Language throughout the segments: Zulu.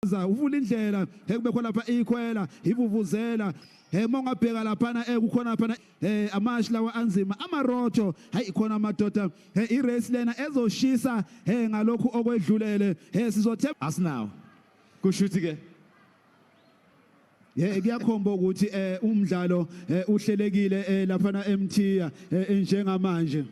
Za uvula indlela ekube khona lapha ikhwela ivuvuzela eh uma ungabheka laphana eh kukhona laphana eh amashi lawa anzima amarotho hayi khona amadoda eh i race lena ezoshisa eh ngalokhu okwedlulele eh sizothe asinawo kusho ukuthi ke Eh kuyakhomba ukuthi eh umdlalo eh, uhlelekile eh, lapha na eMthiya eh, njengamanje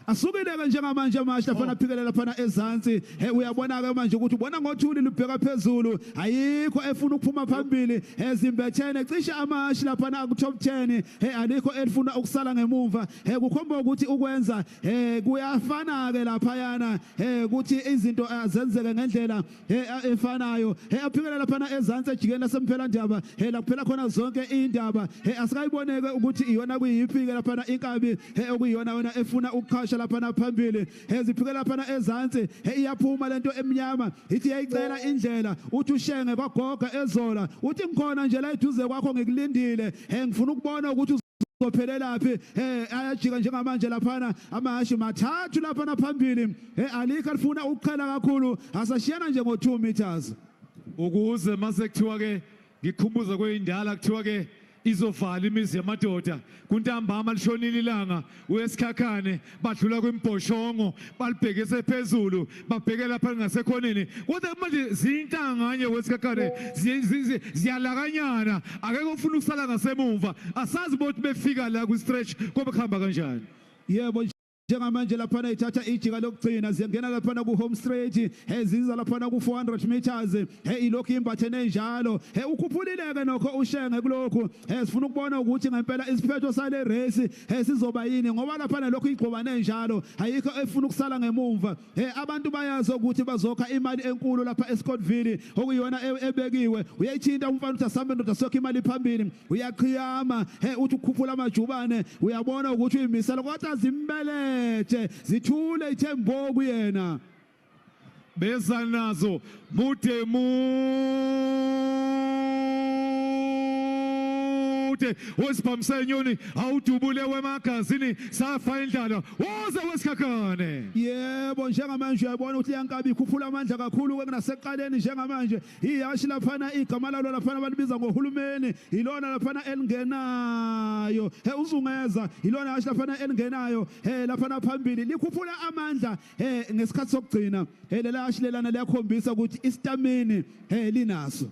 Asukile-ke njengamanje manje lafana oh. phikelela phana ezansi he uyabona-ke manje ukuthi ubona ngothuli lubheka phezulu ayikho efuna ukuphuma phambili ezimbethene cishe amashi laphana aku-top 10 he alikho elifuna ukusala ngemumva he kukhomba ukuthi ukwenza he kuyafana-ke laphayana he ukuthi izinto azenzeke ngendlela he efanayo he aphikele laphana ezantsi ejikeni lasemphela ndaba he lakuphela khona zonke indaba he asikayiboneke ukuthi iyona kuyiphi ke laphana inkabi he okuyiyona yona efuna ukuqhasha laphana phambili he ziphike laphana ezantsi he iyaphuma lento emnyama ithi yayicela indlela uthi ushenge kwagoga ezola uthi ngikhona nje la eduze kwakho ngikulindile he ngifuna ukubona ukuthi uzophelelaphi eh ayajika njengamanje laphana amahashi mathathu laphana phambili eh alikho lifuna ukuqhela kakhulu asashiyana nje ngo 2 meters ukuze mase kuthiwa ke ngikhumbuza kweyindala kuthiwa ke izovala imizi yamadoda kuntambama lishonile ilanga uyesikhakhane badlula kwimbhoshongo balibhekise phezulu babheke lapha ngasekhoneni kodwa manje zintanganye wesikhakhane ziyalakanyana akekho ofuna ukusala ngasemumva asazi bothi befika la kwi-stretch kobe kuhamba kanjani yebo njengamanje laphana ithatha ijika lokugcina ziyangena laphana ku-home straight he ziza laphana ku-400 meters he ilokhu imbathe nenjalo he ukhuphulileke nokho ushenge kulokhu He sifuna ukubona ukuthi ngempela isiphetho sale race he sizoba yini ngoba lapha lokho igqobane enjalo ayikho efuna ukusala ngemumva he abantu bayazi ukuthi bazokha imali enkulu lapha eScottville okuyona e-, ebekiwe uyayithinta umfana uthi asambe ndoda sokha imali phambili uyaqhiyama he uthi ukhuphula amajubane uyabona ukuthi uyimisela kodwa zimbelethe zithule ithembo kuyena beza nazo mude mude wesibhamisa inyoni awudubule wemagazini safa indlala woze wesikhakhane yebo njengamanje uyabona ukuthi yankabi ikhuphula amandla kakhulu kunaseqaleni njengamanje ihashi laphana igama lalo laphana balibiza ngohulumeni yilona laphana elingenayo he uzungeza yilona hashi laphana elingenayo he laphana phambili likhuphula amandla eh ngesikhathi sokugcina eh lelashilelana liyakhombisa ukuthi istamini eh linaso